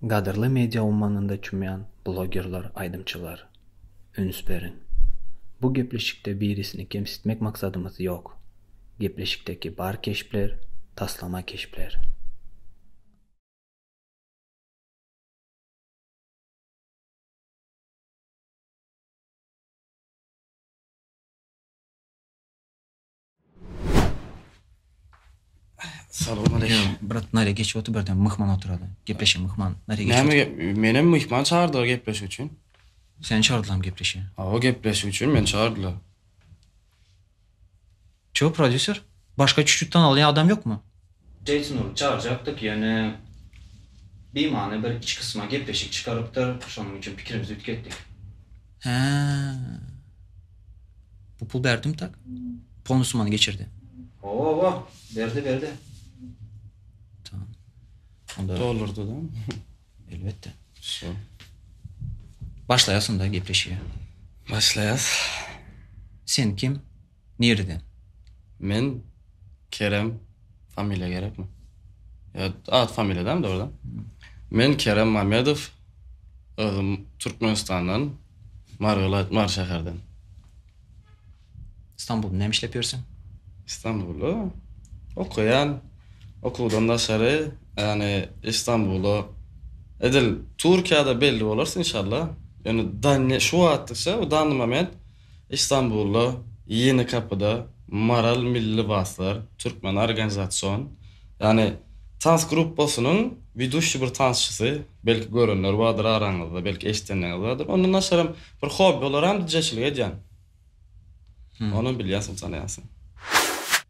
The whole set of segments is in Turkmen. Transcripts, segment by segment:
Gadyrly media ummanynda çümýän blogerler, aýdymçylar! Üns beriň! Bu gepleşikde birisini kemsitmek maksadymyz ýok. Gepleşikdäki bar keşpler, taslama keşpler. Salam aleýkum. Brat, nare geç otur birden myhman oturady. Gepleşe myhman. Nare geç. Näme gep? Menem myhman çağırdylar gepleşik üçin. Sen çağırdylam gepleşe. Awa gepleşik üçin meni çağırdylar. Ço prodýuser? Başga çüçütden alýan adam ýokmy? Jeýson urup çagyrjakdyk ýöne bimany bir iç gysma gepleşik çykarypdyr şonuň üçin pikirimizi ütgetdik. Hä. Bu pul berdimi tak? Polny summany geçirdi. Oba, berdi berdi. Tamam. Onda Dollarda da. Elbetde. Şo. Başlaýas onda gepleşige. Başlaýas. Sen kim? Nireden? Men Kerem familiýa gerekmi? Ýa at familiýa däl dogry da. Men Kerem Mamedow özüm Türkmenistandan Margalaýt Mary şäherden. Stambulda näme işläp ýörseň? Stambulda okaýan okuwdan daşary ýagny Istambula edil Türkiýada belli bolarys inşallah ýöne şu wagtlykça bu danly moment Istanbulda Ýeni Kapyda Maral Milli Lybaslar Türkmen Organizasion ýany tans gruppasynyň widuşi bir tansçysy, belki görenler bardyr araňyzda, belki eşidenlerňiz bardyr. Ondan daşaram bir hobbi olaram dijeçilik edýän. Onam bilýänsiň, tanaýansyň.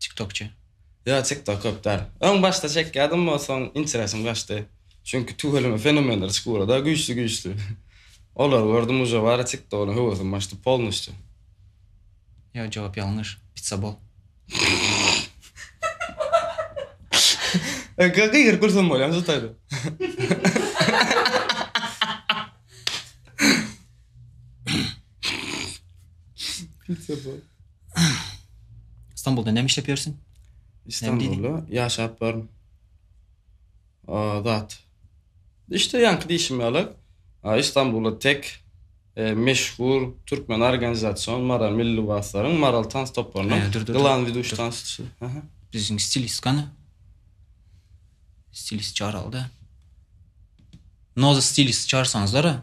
Tiktokçy. Ýok tiktok köp däl. Öň başda çekýädim bu soň interesim gaçdy. Çünki tüweleme fenomenler çykyberda güýçli güýçli. Olary gördüm uje bari tiktoga höwesim gaçdy polnostyu. Ýok jogap ýalňyş. Pitsa bol. Öňküler gygyryp gülsem bolýamy şu taýda. Pitsa bol. Stambulda näme işläp ýörsiň? Stambulda ýaşap baryn. Azat. Işte ýaňky diýşim ýaly, Stambulda tek e, meşhur türkmen organizasion Mara milli waslaryň Maral tans toparynyň e, Glan Viduş tansçy. Biziň stilist gany. Stilist çaralda. Noza stilist çarsaňyzlar.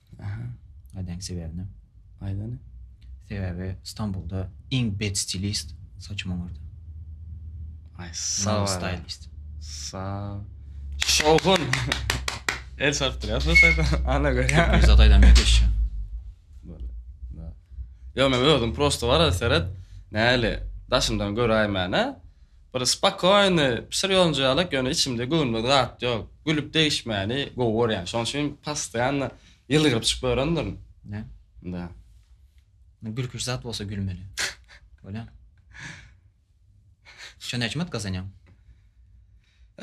Aha. Nädäň sebäbini? Aýt ony. Sebäbi Stambulda iň bet stilist saçym oňardy. Aý, sag ol. Stylist. Sag. Şowhun. El sarp durýar şu saýda. Ana görýä. Biz ataýdan mekeşşi. Bolýar. Da. Ýok, men özüm prosta bara seret. Näli? Daşymdan göräýmäne. Bir spakoýny pişir ýonjalyk ýöne içimde göwnüme zat ýok. Gülüp degişmäni gowy görýän. Şoň üçin postoýanna ýylgyryp çykyp örendirin. Näme? Da. Gülküli zat bolsa gülmeli. Bolýamy? Şu näçe manat gazanýaň?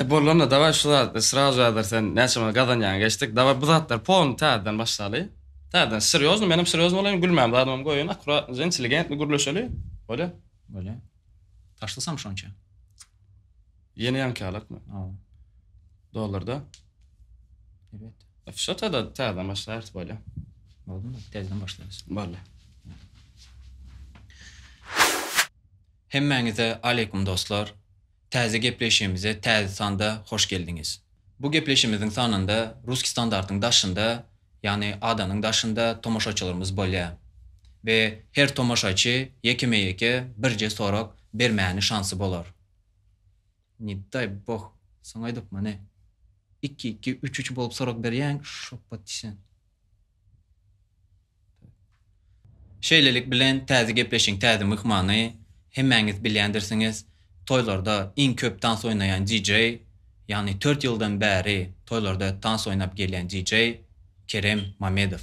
E bolanda daway şu zatda sraz jadyr sen näçe manat gazanýaň geçdik. Daway bu zatlar polny täzeden başlaly. Täzeden serýozny menem serýozny bolaýyn gülmän zadymam goýaýyn akuratnyja inteligentni gürleşeli. Bolýa? Bolýa. Taşlasam şonça. Ýene ýanki alakmy? Ha. Dollarda. Evet. Şu tada täze başlaýarys bolýa. Boldy. Täzeden başlaýarys. Boldy. Hemmäňize aleykum dostlar. Täze gepleşigimize täze sanda hoş geldiňiz. Bu gepleşimiziň sanynda Ruski standartyň daşynda, ýagny adanyň daşynda tomaşaçylarymyz bolýar we her tomaşaçy ýekeme-ýeke birje sorag bermäni şansy bolar. Ne daý boh, soň aýdyp mane, iki-iki, üç-üç bolup sorag berýäň, şoppa diýseň. Şeýlelik bilen täze gepleşigiň täze myhmany, hemmäňiz bilýändirsiňiz, toýlarda iň köp tans oýnaýan DJ, ýagny tört ýyldan bäri toýlarda tans oýnap gelýän DJ Kerem Mamedow.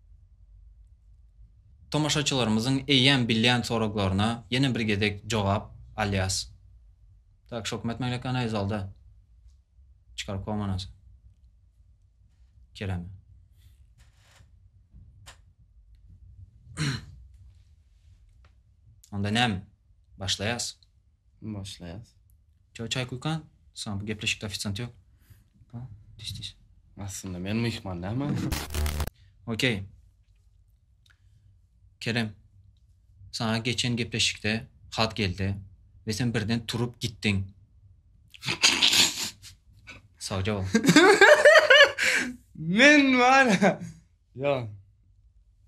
Tomaşaçylarymyzyň eýýäm bilýän soraglaryna ýene bir gezek jogap alýas. Tak şok met meglekana iz alda. Çykar komanasy. Kerem. Onda näme? Başlaýas. Başlaýas. Çaý çaý kuýkan soň bu gepleşikde ofisiant ýok. Ba, diş diş. Aslynda men myhman näme? Okey. Kerem. Saňa geçen gepleşikde hat geldi we sen birden turup gitdiň. Sagja bol. Men bar. Ýa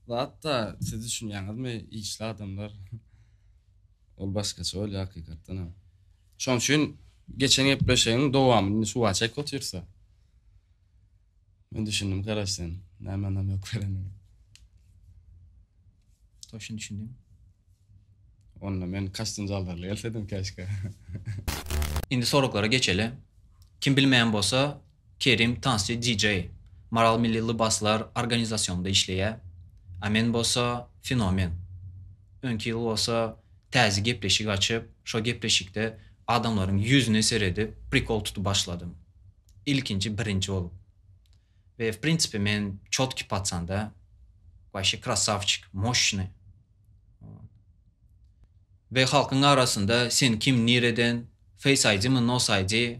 zatda siz düşünýäňizmi işli adamlar ol başgaça bolýar hakykatdanam. Şoň üçin geçen gepleşigiň dowamyny indi suwa çekip otyrsa. Men düşündim garaş sen näme anam ýok berenini. Toşun düşündim. Onda men kastyn zaldarly gelsedim keşke. Indi soraglara geçeli. Kim bilmeýän bolsa Kerim tansçy DJ, Maral Milli Lybaslar organizasyonynda işleýär. A men bolsa fenomen. Öňki ýyl bolsa täze gepleşik açyp, şo gepleşikde adamlaryň ýüzüne seredip prikol tutup başladym. Ilkinji birinji bolup. We w prinsipi men çotki patsan da. Waşe krasawçik, moşnyý. We halkyň arasynda sen kim nireden, face ID mi nos ID,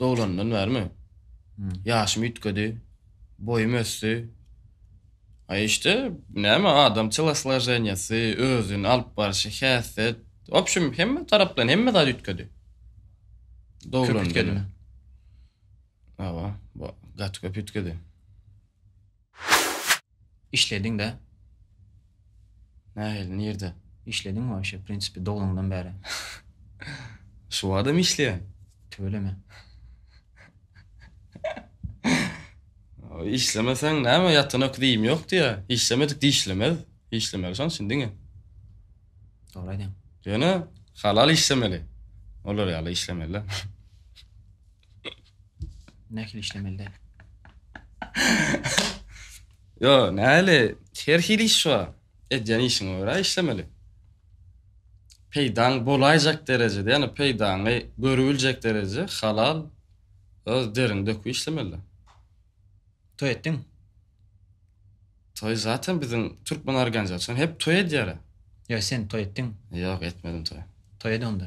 Doglandan bärimi? Ýaşym üýtgedi. Boýum ösdi. A işte, näme adam telosloženiýasy, özüni alyp barşy, häsiýet, w opşum, hemme tarapdan hemme zat üýtgedi. Doglandan. Köp üýtgedimi? Hawa, gaty köp üýtgedi. Işlediň de. Nähili nirde? Işlediň waşe prinsipi doganyňdan bäri. Şu wagtam işleýän. Tüweleme. Işlemeseň näme ýatan öküz iýim ýok diýä. Işlemedik dişlemez. Işlemeli şoň üçin diňe. Dogry aýdýaň. Ýöne halal işlemeli. Olar ýaly işlemeli. Nähili işlemeli? Yo, nähili? Her hili iş bar. Edýän işiňe görä işlemeli. Peýdaň bolaýjak derejede, ýani peýdaňy görübiljek derejede halal öz deriňi döküp işlemeli. Toý etdiň? Toý zaten biziň türkmen organizasiýasy hep toý edýär. Ýa sen toý etdiň? Ýok, etmedim toý. Toý ede onda.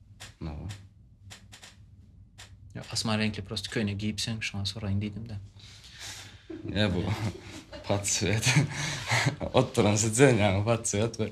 Tutmagy. Ýok, asman reňkli prosta köýnek geýipsiň, şoňa soraýyn diýdim-de. Ne bu? Patsvet. Oturan sizden yani patsvet ve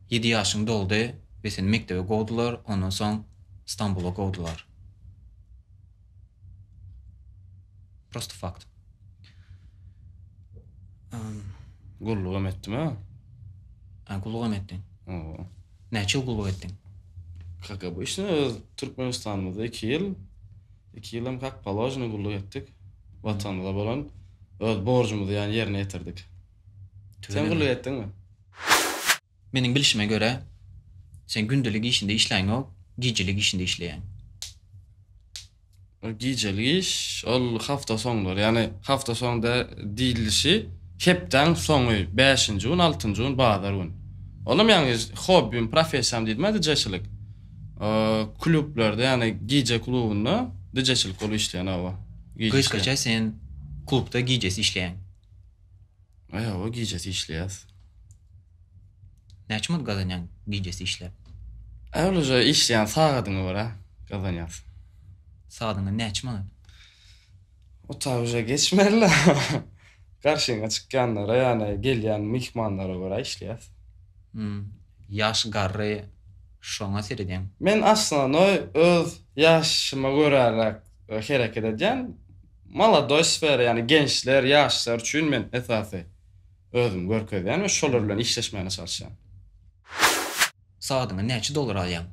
Ýedi ýaşyň doldy we seni mekdebe kowdular, ondan soň Stambula kowdular. Prosta fakt. Gullugam etdim-ä. Hä, gullugam etdiň. Hawa. Näçe ýyl gulluk etdiň? Kak obýçny öz Türkmenistanymyzda iki ýyl, iki ýyl hem kak položnyý gulluk etdik. Watanymyza bolan öz borjumyzy ýa ýerine ýetirdik. Sen gulluk etdiňmi? Meniň bilşime görä, sen gündelik işinde işläňok, gijelik işinde işleýäň. Ol gijelik iş, ol hafta soňlary, ýagny hafta soň da diýlişi hepdäň soňy, bäşinji gün, altynjy gün, bazar gün. Olam ýagny hobbim, professiýam diýdim-ä dijeçilik. Klublarda, ýagny gije klubunda dijeçilik bolup işleýän, hawa. Gije işleýän. Gysgaça sen klubda gijesi işleýäň. Aý hawa gijesi işleýäs. Näçe manat gazanýaň gijesi işläp? Aý ol uje işleýän sagadyňa görä gazanýas. Sagadyňa näçe manat? Ota uje geçmeli-le. Garşyňa çykýanlara ýagny gelýän myhmanlara görä işleýäs. Hum. Ýaş garry şoňa seredýäň. Men aslynda öz ýaşyma göräräk hereket edýän. Molodoý sfera, ýagny gençler, ýaşlar üçin men esasy özümi görkezýän we şolar bilen işleşmäne çalyşýan. Sagadyňa näçe dollar alýaň?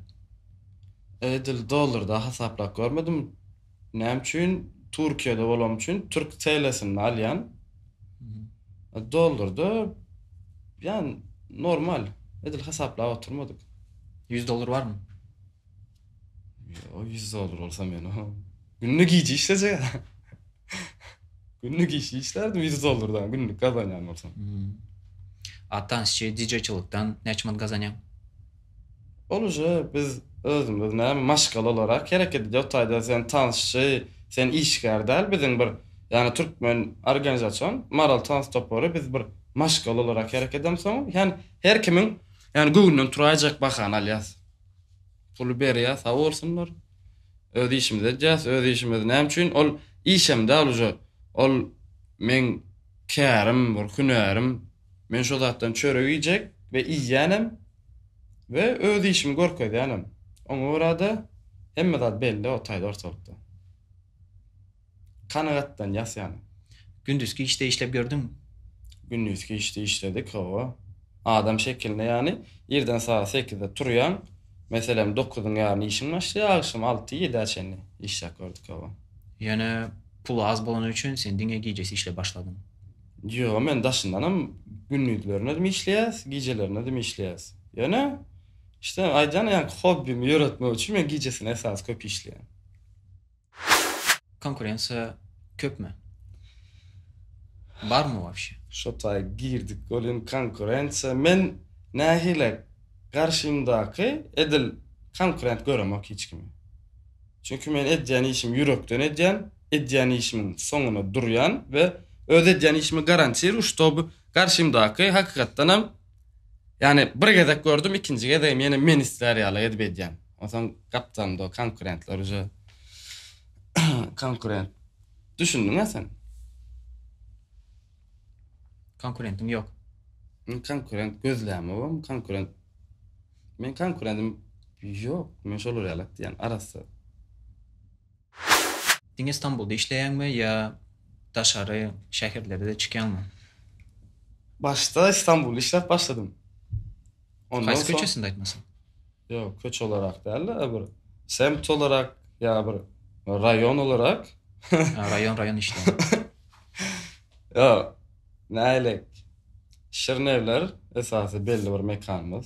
Edil dollarda hasaplap görmedim. Näme üçin? Türkiýede bolanm üçin türk TL'sinde alýan. Dollarda ýan normal. Edil hasaplap oturmadyk. Ýüz dollar barmy? Ýo, 100 dollar bolsa men o. Günde gije işlejek. Günde gije işlerdim 100 dollardan günlük gazanýan bolsam. Hmm. A tansçy DJ-çilikden näçe manat gazanýaň? Ol uje biz özümiz näme maşgala olarak hereket edýär. O taýda sen tansçy, sen işgär däl. Biziň bir ýagny türkmen organizasion Maral tans topary biz bir maşgala olarak hereket edemsoň, ýagny her kimiň ýagny göwnünden turaýjak bahany alýas. Puly berýär sag bolsunlar. Öz işimizi edýäs, öz işimiz näme üçin ol işem däl uje. Ol meň kärim, bir hünärim. Men şo zatdan çörek iýjek we iýýänem we öz işimi görkezýänem. Oňa görä-de hemme zat belli o taýda ortalykda. Kanagatdan ýasýan. Gündizki işde işlep ýördüňmi? Gündizki işde işledik, hawa. Adam şekilinde ýany, irden sagat sekizde turýaň, meselem, dokuzyň ýaryna işiň başlaýar, agşam alty, ýedä çenli işläp gördük, hawa. Ýöne puly az bolany üçin sen diňe gijesi işläp başladyň. Ýok, men daşyndanam gündizlerinedm işleýäs, gijelerinedm işleýäs. Ýöne, işte, aýdýan ýaly, hobbimi ýöretmek üçin men gijesine esasy köp işleýän. Konkurensiýa köpmi? Barmy wobşe? Şo taý girdik welin konkurensiýa men nähili garşymdaky edil konkurent göremok hiç kimi. Çünki men edýän işimi ýürekden edýän, edýän işimiň soňuna durýan we öz edýän işimi garantiruju ştoby garşymdaky hakykatdanam Ýani bir gezek gördüm ikinji gezegem ýene men islär ýaly edip edýän. Onsoň gapdalym do konkurentler uje konkurent. Düşündiňä sen? Konkurentiň ýok. Men konkurent gözlämegem konkurent. Men konkurentim ýok. Men şolar ýaly edýän arassa. Diňe Stambulda işleýäňmi ýa daşary şäherlere-de çykýaňmy? Başda Stambulda işläp başladym. Ondan Haýsy soň köçesinde aýtmasaň? Ýok, köçe olarak däl-de, bir semt olarak ýa bir raýon olarak. Ha, raýon, raýon işleýän. Ýok, nähilek, Şirin Evler esasy belli bir mekanymyz.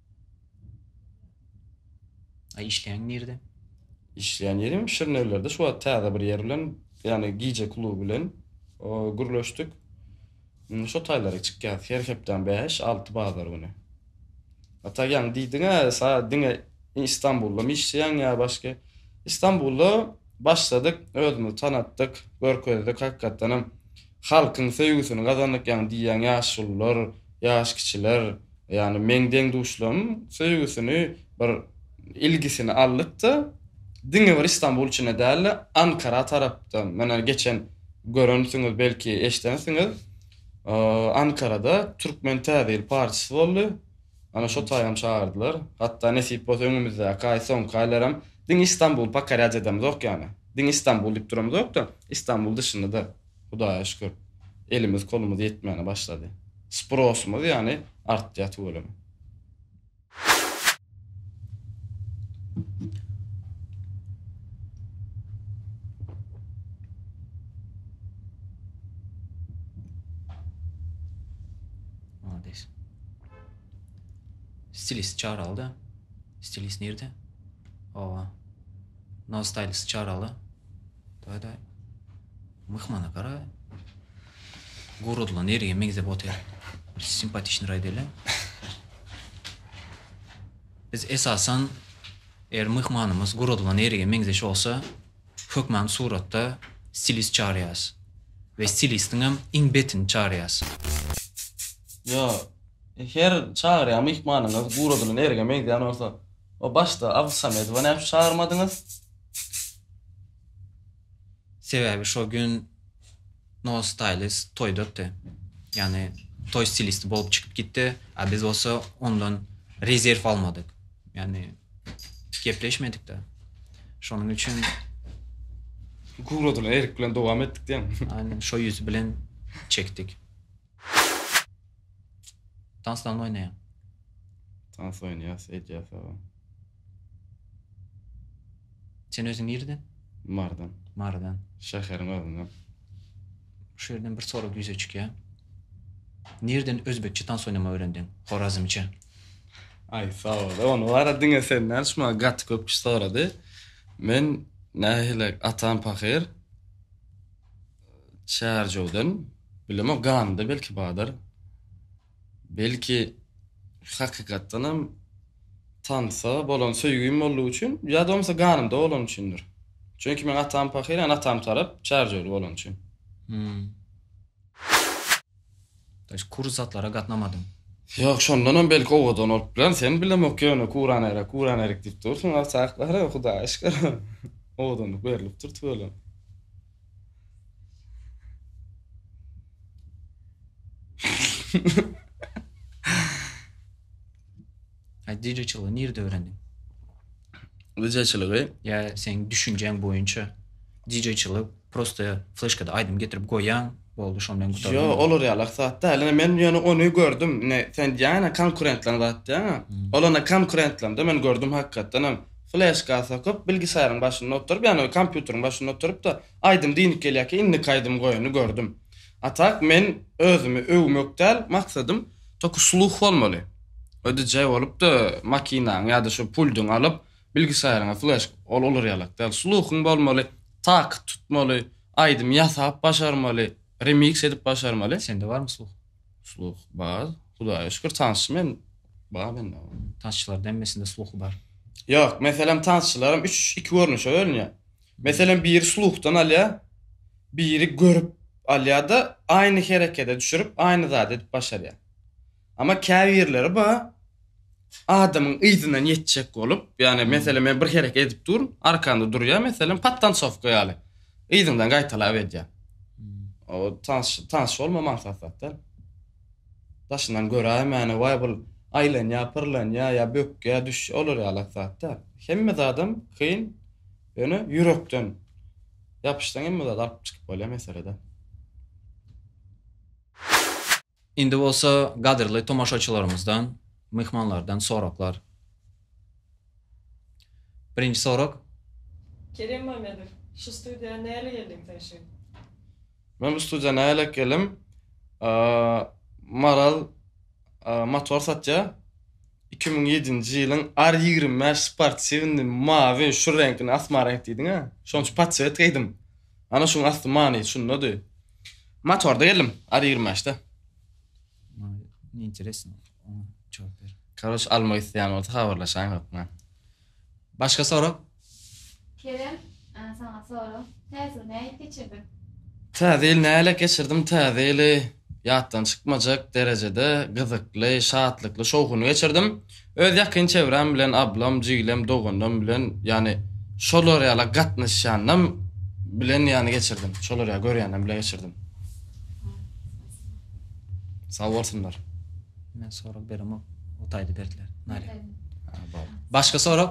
A işleýäň nirde? Işleýän ýerim Şirnewlerde şu wagt täze bir ýer bilen ýagny gije kluby bilen gürleşdik. Indi şo taýlara çykýas her hepdäň bäş, alty bazar güni. A tak ýaňy diýdiňä sa diňe Istanbuldamy işleýäň ýa başga? Istanbulda başladyk özümizi tanatdyk, görkezdik hakykatdanam halkyň söýgüsini gazandyk ýaňy diýýäň ýaşulylar, ýaş kiçiler Ýagny meň deň-duşlarym söýgüsini bir ilgisini aldyk-da, diňe bir Istanbul içinde däl-de, Ankara tarapdan, menä geçen görensiňiz, belki eşidensiňiz, Ankarada Türkmen Täze ýyl partisy boldy. Ana şo taýam çagyrdylar. Hatda nesip bolsa öňümizdäki aý, soňky aýlaram diňe Istanbul pokorýat edemizok ýagny. Diňe Istanbul diýip duramyzok-da, Istanbul dyşynda-da Hudaýa şükür, elimiz kolumyz ýetmäne başlady. Sprosumyz ýagny artýar tüweleme. Malades. Stilist çaralda. Stilist nirde? Owa. No stylist çarala. Daýda, myhmana gara, guradylan erige meňzep otyr. Simpatiçni raý dele. Biz esasan, er myhmanymyz guradylan erige meňzeş olsa, hökman suratda stilist çaryas. Ve stilistiň hem iň betini çaryas. Yo, her çaryýan myhmanyňyz guradylan erige meňzeýän olsa, o başda Abdysamedowa näme üçin çagyrmadyňyz? Sebäbi şo gün No Stylist toýdakdy. Ýagny toý stilisti bolup çykyp gitdi, a biz bolsa ondan rezerw almadyk. Ýagny gepleşmedik-de. Şonuň üçin Guradyna Erik bilen dowam etdik diýen. Aýnan şo ýüz bilen çekdik. Tansdan oýnaýaň. Tans oýnaýas, edýä sag ol. Sen özüň nirden? Marydan. Marydan. Şäheriň özünden. Şu ýerden bir sorag ýüze çykýa. Nirden özbekçe tans oýnama öwrendiň? Horazmçe. Aý sag ol. Ony wara diňe sen nädip şuma gaty köp kişi sorady. Men nähili atam pahyr. Çärjewden bilemok ganda belki bardyr. Belki hakykatdanam tansa bolan söýgim boldugy üçin ýa da bolmasa ganymda bolany üçindir. Çünki meň atam pahyr, ýani atam tarap çärjewli bolany üçin. Hmm. Daş kursatlara gatnamadym. Ýok, şondanam belki owadan bolup biler. Sen bilemok ýöne kuranera, kuranerik diýip dursuň. Agsaklara Hudaýa şükür. Owadanlyk berlipdir tüweleme. Ay DJ çylygy nirde öwrendiň? DJ çylygy ya sen düşünjäň boýunça DJ çylyk prosta flashkada aýdym getirip goýýaň, boldy şon bilen gutardy. Yo, olar ýalak zat däl. Ine men ýöne ony gördüm. Ine sen diýýäňä konkurentleň zat diýýäňä. Hmm. Olana konkurentleňde men gördüm hakykatdan hem. fleşka sokup, bilgisayryň başynda oturyp, ýagny kompýuteriň başynda oturyp-da, aýdym diňip gelýärkä, indiki aýdym goýany gördüm. A tak, men özümi öwmek däl maksadym, toky sluh bolmaly. Ödüjä bolup-da, makinaňy ýa-da şu puldyňy alyp, bilgisaýryňa fleşk, ol olar ýalak däl. Sluhuň bolmaly, tak tutmaly, aýdym ýasap başarmaly, remiks edip başarmaly. Sende barmy sluh? Sluh bar. Hudaýa şükür tanşym hem bar mende. Tanşylaryň hemmesinde sluh bar. Ýok, meselem tanşylarym üç iki görnüşe bölünýär. Meselem biri sluhdan alýar, biri görüp alýar-da, aýny herekede düşürip, aýny zady edip başarýar. Emma käbirleri bar, adamyň yzyndan ýetjek bolup, ýagny meselem men bir hereket edip durun, arkanda durýar meselem podtansowka ýaly. Yzyňdan gaýtalap edýär. O tans tans bolma maksatda. Daşyndan göräýme ýagny waý bul aýlanýar, pyrlanýar ýa bökýär, düşýär olar ýaly zatda. Hemme zadam kyn ýöne ýürekden ýapyşsaň hemme zady alyp çykyp bolýar meselede. Indi bolsa gadyrly tomaşaçylarymyzdan, myhmanlardan soraglar. Birinji sorag. Kerem Mamedow, şu studiýa näle geldiň sen şu ýyl? Men bu studiýa nälelik geldim? Maral motor satýar. Iki müň ýedinji ýylyň R ýigrimi bäş sportiwnyny mawy şu reňkini asma reňk diýdiňä. Şonuň üçin podswet geýdim. Ana şuň asty many şundady. Motorda geldim. Ar 25-de. Ne interesno. Oňa jogap ber. Karoç almak isleýän bolsa habarlaşaň hökman. Başga sorag? Kerem, a, saňa sorag. Täze ýyl nähili geçirdiň? Täze ýyl nähili geçirdim? Täze ýyly ýatdan çykmajak derejede gyzykly, şatlykly, şowhunly geçirdim. Öz ýakyn çevrem bilen ablam, jiglem, doganlarym bilen ýany şolar ýala gatnaşýanam bilen ýany geçirdim. Şolar ýa görýänem bile geçirdim. Sag bolsunlar. Men sorag beremok. O taýda berdiler. Nare. Başga sorag?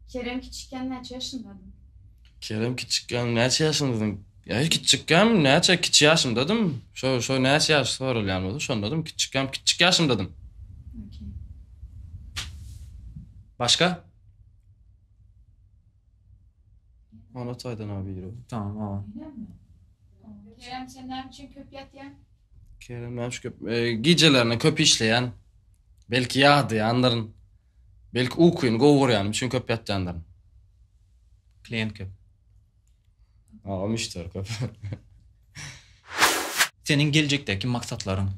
Kerem kiçikkän näçe ýaşyndady? Kerem kiçikkän näçe ýaşyndady? Ýaşy kiçjikkäm, näçe kiçi ýaşymdadym, şo şo näçe ýaş soralýan bolsa şondadym, kiçjikkäm, kiçjik ýaşymdadym. Okey. Başga? Onat Aýdanow biri. Tamam, ol. Öýlenme. Kerem sen näme üçin köp ýatýaň? Kerem näme şu köp, e, gijelerine köp işleýän. Belki ýadýandyryn. Belki ukuny gowy görýänim üçin köp ýatýandyryn. Klient köp. Agam işler köp. Seniň geljekdäki maksatlaryň?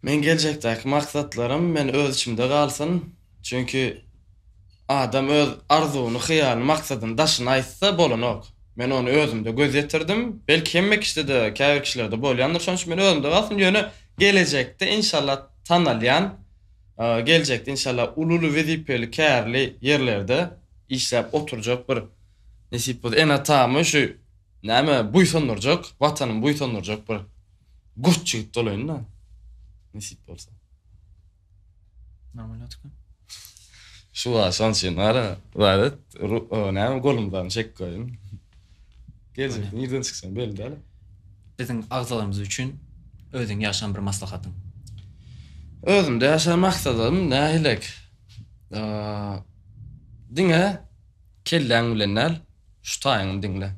Meň geljekdäki maksatlarym men öz içimde galsyn. Çünki adam öz arzuwyny, hyýalyny, maksadyny daşyna aýtsa bolanok. Men ony özümde göz ýetirdim. Belki hemme kişide, käbir kişilerde bolýandyr. Şonuň üçin men özümde galsyn. Ýöne gelejekde inşallah tanalýan, geljekde inşallah uly-uly wezipeli kärli ýerlerde işläp oturjak bir Nesip bolsa ene-atamy şu näme buýsandyrjak, Watanymy buýsandyrjak bir gurt jigit bolaýyn-da. Nesip bolsa. Namalatka. Şu wa şans üçin ara ibadet, näme golumdan çek goýun. Geljek nirden çyksaň belli däl. Biziň agzalarymyz üçin özüň ýaşan bir maslahatyň. Özümde ýaşan maksatym nähilek? Diňe Kelläň bilen däl, şu taýyňy diňle.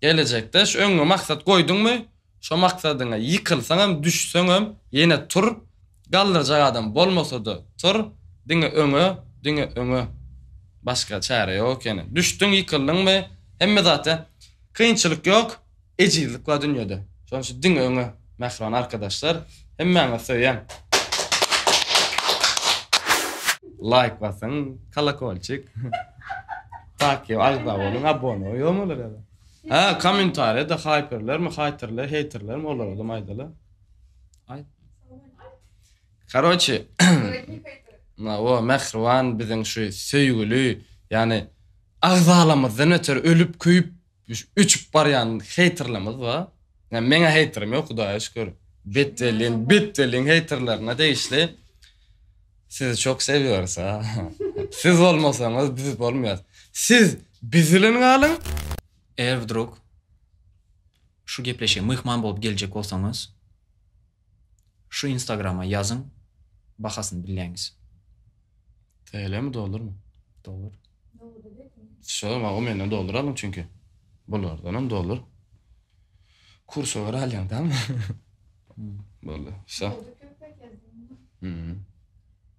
Gelejekde şu öňňe maksat goýduňmy, şo maksadyňa ýykylsaňam, düşseňem ýene tur, galdyrjak adam bolmasa-da tur, diňe öňe, diňe öňe. Başga çäre ýok ýene. Düşdüň, ýykyldyňmy, hemme zat ýa. Kynçylyk ýok. Ejizlik bar dünýede. Şonuň üçin diňe öňe mähriban arkadaşlar. Hemmäňizi söýýän. Laýk basyň, kolokolçik. Takýa agza boluň, abone ýokmy olar ýa-da? Hä, kommentariýada haýperlermi, haýterler, heýterlermi olara da maýdala. Aýt. Karoçi. Na o mähriban biziň şu söýgüli, ýany agzalarymyzdan öter ölüp, köýüp Öçüp barýan heýterlerimiz bar. Ýa meň heýterim ýok Hudaýa şükür. Bet welin bet welin heýterlerine degişli. Sizi çok sewiyoruz a. Siz bolmasaňyz biz bolmaýas. Siz biz bilen galyň. Eger wdrug şu gepleşige myhman bolup geljek bolsaňyz Şu instagrama ýazyň bahasyny bilýäňiz. TL mi dollurmy? Dollar. Şo zaman o menden dollar aldyň çünki. Bulardanam dollar. Kursa göre alýaň tammy. Boldy. Şo. Hmm.